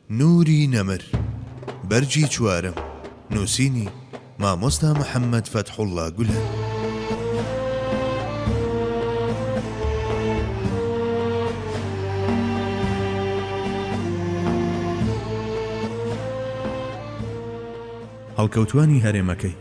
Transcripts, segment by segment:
نوری نەمر، بەرگی چوارەم، نووسینی، مامۆستا محەممەد فەتحوڵڵا گولەن. هەڵکەوتوانی هەرێمەکەی.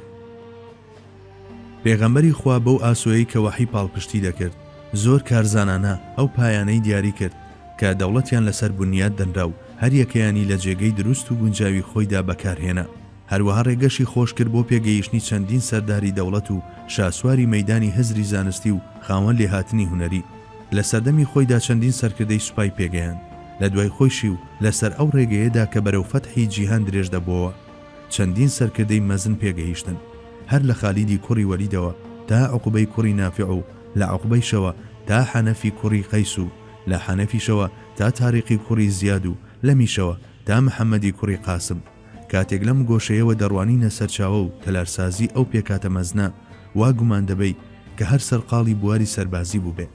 پێغەمبەری خوا بەو ئاسۆیەی کە وەحی پاڵپشتی دەکرد، زۆر کارزانانە ئەو پایانەی دیاری کرد کە دەوڵەتیان لەسەر بنیات دەنرا و هەریەکەیانی لە جێگەی دروست و گونجاوی خۆیدا بەکارهێنا. هەروەها ڕێگەشی خۆش کرد بۆ پێگەیشتنی چەندین سەرداری دەوڵەت و شاسواری مەیدانی هزری زانستی و خاوەن لێهاتنی هونەری. لە سەردەمی خۆیدا چەندین سەرکردەی سوپای پێگەیاند لە دوای خۆیشی و لەسەر ئەو ڕێگەیەدا کە بەرەو فەتحی جیهان درێژ دەبۆوە. چەندین سەرکردەی مەزن پێگەیشتن، هەر لە خالیدی کوڕی وەلیدەوە تا عوقبەی کوڕی نافع و لە عوقبەیشەوە تا حەنەفی کوڕی قەیس و لە حەنەفیشەوە تا تاریقی کوڕی زیاد و لەمیشەوە تا محەمەدی کوڕی قاسم کاتێک لەم گۆشەیەوە دەڕوانینە سەرچاوە و تەلارسازی ئەو پێکهاتە مەزنە وا گومان دەبەی کە هەر سەرقاڵی بواری سەربازی بووبێ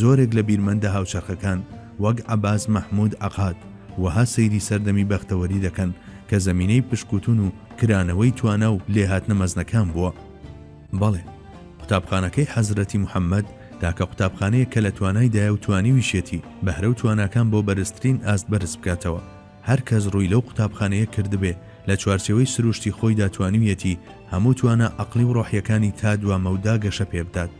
زۆرێک لە بیرمەندە هاوچەرخەکان وەک عەباس مەحمود عەقاد وەها سەیری سەردەمی بەختەوەری دەکەن کە زەمینەی پشتکوتن و کرانەوەی توانا و لێهاتنە مەزنەکان بووە. بەڵێ، قوتابخانەکەی حەزرەتی محەمەد تاکە قوتابخانەیە کە لە توانایدایە و توانیویشێتی بەهرە و تواناکان بۆ بەرزترین ئاست بەرز بکاتەوە. هەر کەس ڕووی لەو قوتابخانەیە کردبێ، لە چوارچێوەی سرووشتی خۆیدا توانیویەتی هەموو توانا عەقڵی و ڕۆحییەکانی تا دوا مەودا گەشە پێ بدات.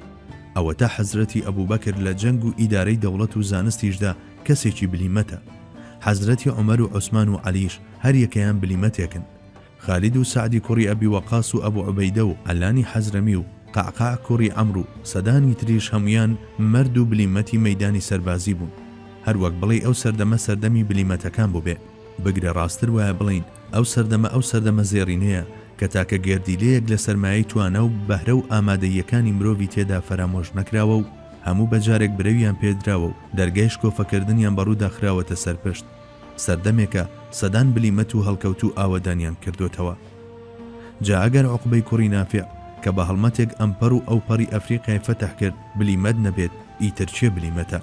ئەوەتا حەزرەتی ئەبووبەکر لە جەنگ و ئیدارەی دەوڵەت و زانستیشدا کەسێکی بلیمەتە. حەزرەتی عومەر و عوسمان و عەلییش هەر یەکەیان بلیمەتێکن. خالید و سەعدی کوڕی ئەبی وەقاس و ئەبو عوبەیدە و عەلانی حەزرەمی و قەعقاع کوڕی عەمر و سەدانی تریش هەموویان مەرد و بلیمەتی مەیدانی سەربازی بوون هەر وەک بڵێی ئەو سەردەمە سەردەمی بلیمەتەکان بووبێ بگرە ڕاستتر وایە بڵێین ئەو سەردەمە ئەو سەردەمە زێڕینەیە کە تاکە گێردیلەیەک لە سەرمایەی توانا و بەهرە و ئامادەییەکانی مرۆڤی تێدا فەرامۆش نەکراوە و هەموو بە جارێک برەویان پێ دراوە و دەرگای شکۆفەکردنیان بە ڕوودا خراوەتە سەر پشت سەردەمێکە سەدان بلیمەت و هەڵکەوتوو ئاوەدانیان کردۆتەوە. جا ئەگەر عوقبەی کوڕی نافع کە بە هەڵمەتێک ئەمپەڕ و ئەوپەڕی ئەفریقیای فەتح کرد بلیمەت نەبێت ئیتر کێ بلیمەتە؟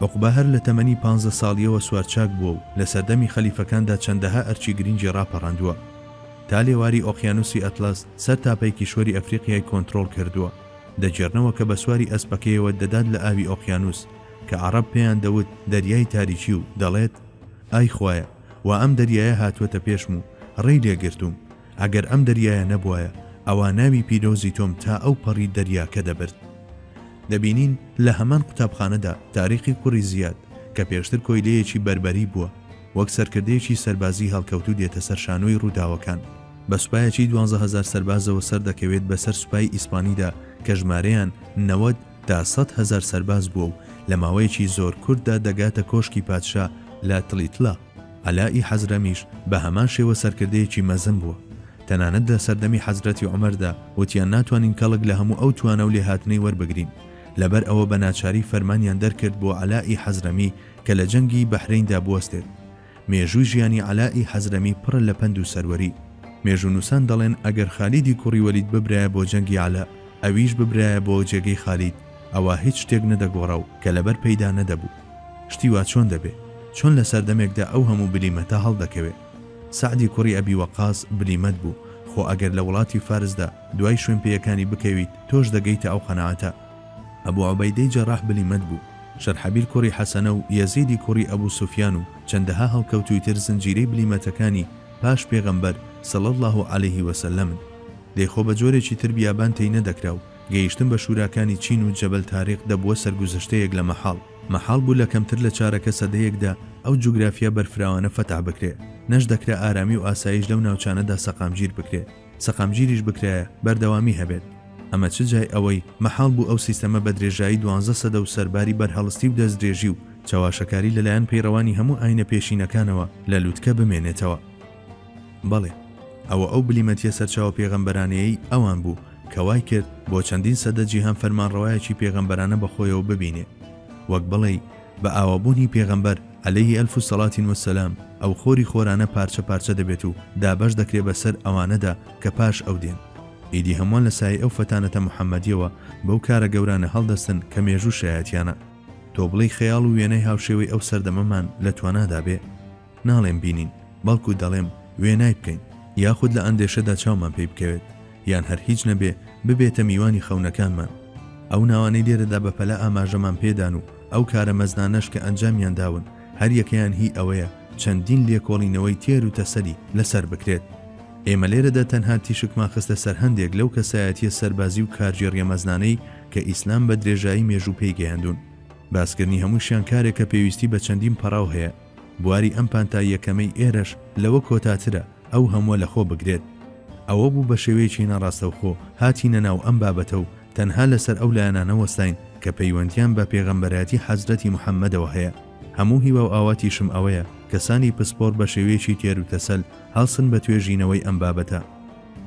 عوقبە هەر لە تەمەنی پانزە ساڵییەوە سوارچاک بووە و لە سەردەمی خەلیفەکاندا چەندەها ئەرکی گرینگی ڕاپەڕاندووە. تا لێواری ئۆقیانووسی ئەتڵەس سەر تاپەی کیشوەری ئەفریقیای کۆنترۆڵ کردووە. دەگێڕنەوە کە بە سواری ئەسپەکەیەوە دەدات لە ئاوی ئۆقیانووس، کە عەڕەب پێیان دەوت دەریای تاریکی و دەڵێت، ئای خوایە وا ئەم دەریایە هاتووەتە پێشم و ڕێی لێ گرتووم، ئەگەر ئەم دەریایە نەبوایە ئەوا ناوی پیرۆزی تۆم تا ئەو پەڕی دەریاکە دەبرد. دەبینین لە هەمان قوتابخانەدا تاریقی کوڕی زیاد کە پێشتر کۆیلەیەکی بەربەری بووە، وەک سەرکردەیەکی سەربازی هەڵکەوتوو دێتە سەر شانۆی ڕووداوەکان، بە سوپایەکی دوانزە هەزار سەربازەوە سەردەکەوێت بەسەر سوپای ئیسپانیدا کە ژمارەیان نەوەد، تا سەد هەزار سەرباز بووە و لە ماوەیەکی زۆر کورتدا دەگاتە کۆشکی پادشا لە تلیتلا، عەلاء ی حەزرەمیش بە هەمان شێوە سەرکردەیەکی مەزن بووە، تەنانەت لە سەردەمی حەزرەتی عومەردا وتیان ناتوانین کەڵک لە هەموو ئەو توانا و لێهاتنەی وەربگرین، لەبەر ئەوە بە ناچاری فەرمانیان دەرکرد بۆ عەلاء ی حەزرەمی کە لە جەنگی بەحرەیندا بوەستێت، مێژووی ژیانی عەلاء ی حەزرەمی پڕە لە پەند و سەروەری. مێژوونووسان دەڵێن ئەگەر خالیدی کوڕی وەلید ببرایە بۆ جەنگی عەلاء، ئەویش ببرایە بۆ جێگەی خالید، ئەوا هیچ شتێک نەدەگۆڕا و کەلەبەر پێیدا نەدەبوو. شتی وا چۆن دەبێ؟ چۆن لە سەردەمێکدا ئەو هەموو بلیمەتە هەڵدەکەوێ؟ سەعدی کوڕی ئەبی وەقاس بلیمەت بوو، خۆ ئەگەر لە وڵاتی فارسدا دوای شوێنپێیەکانی بکەویت، تۆش دەگەیتە ئەو قەناعەتە. ئەبو عوبەیدەی جەراح بلیمەت بوو، شەرحەبیل کوڕی حەسەنە و یەزیدی کوڕی ئەبو سوفیان و چەندەها هەڵکەوتووی تر زنجیرەی بلیمەتەکانی پاش پێغەمبەر، صلی اللە علیه و سلم، ن. دەی خۆ بە جۆرێکی تر بیابان تێی نەدەکرا و گەیشتن بە شوراکانی چین و جەبەل تاریق دەبووە سەرگوزشتەیەک لە مەحاڵ. مەحاڵ بوو لە کەمتر لە چارەکە سەدەیەکدا ئەو جوگرافیا بەرفراوانە فەتح بکرێ، نەش دەکرا ئارامی و ئاسایش لەو ناوچانەدا سەقامگیر بکرێ. سەقامگیریش بکرایە، بەردەوامی هەبێت. ئەمە چ جای ئەوەی مەحاڵ بوو ئەو سیستەمە بە درێژایی دوانزە سەدە و سەرباری بەرهەڵستی و دەستدرێژی و چەواشەکاری لەلایەن پەیڕەوانی هەموو ئایینە پێشینەکانەوە لە لوتکە بمێنێتەوە. بەڵێ، ئەوە ئەو بلیمەتیە سەرچاوە پێغەمبەرانەیەی ئەوان بوو کە وای کرد بۆ چەندین سەدە جیهان فەرمانڕەوایەکی پێغەمبەرانە بە خۆیەوە ببینێ. وەک بڵێی، بە ئاوابوونی پێغەمبەر، علیه الف صلوة و سلام، ئەو خۆری خۆرانە پارچە پارچە دەبێت و دابەش دەکرێ بە سەر ئەوانەدا کە پاش ئەو دێن. ئیدی هەمووان لە سایەی ئەو فەتانەتە محەمەدیەوە بەو کارە گەورانە هەڵدەستن کە مێژوو شایەتیانە. تۆ بڵێی خەیاڵ و وێنای هاوشێوەی ئەو سەردەمەمان لە توانادا بێ؟ ناڵێم بینین، بەڵکو دەڵێم وێنای بکەین، یاخود لە ئەندێشەدا چاومان پێی بکەوێت، یان هەر هیچ نەبێ ببێتە میوانی خەونەکانمان. ئەو ناوانەی لێرەدا بەپەلە ئاماژەمان پێدان و ئەو کارە مەزنانەش کە ئەنجامیان داون، هەر یەکەیان هی ئەوەیە چەندین لێکۆڵینەوەی تێر و تەسەلی لەسەر بکرێت. ئێمە لێرەدا تەنها تیشکمان خستە سەر هەندێک لەو کەسایەتییە سەربازی و کارگێڕییە مەزنانەی کە ئیسلام بە درێژایی مێژوو پێی گەیاندوون. باسکردنی هەمووشیان کارێکە پێویستی بە چەندین پەڕاو هەیە. بواری ئەم پانتاییەکەمەی ئێرەش لەوە کۆتاترە ئەو هەمووە لە خۆ بگرێت. ئەوە بوو بە شێوەیەکی ناڕاستەوخۆ هاتینە ناو ئەم بابەتە و تەنها لە سەر ئەو لایەنانە وەستاین کە پەیوەندییان بە پێغەمبەرایەتی حەزرەتی محەممەدەوە هەیە. هەموو هیوا و ئاواتیشم ئەوەیە کەسانی پسپۆڕ بە شێوەیەکی تێروتەسەل هەڵسن بە توێژینەوەی ئەم بابەتە.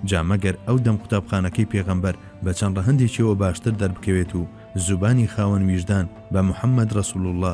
جا مەگەر ئەو دەم قوتابخانەکەی پێغەمبەر بە چەند ڕەهەندێکیەوە باشتر دەربکەوێت و زوبانی خاوەن ویژدان بە محەممەد ڕەسووڵوڵڵا،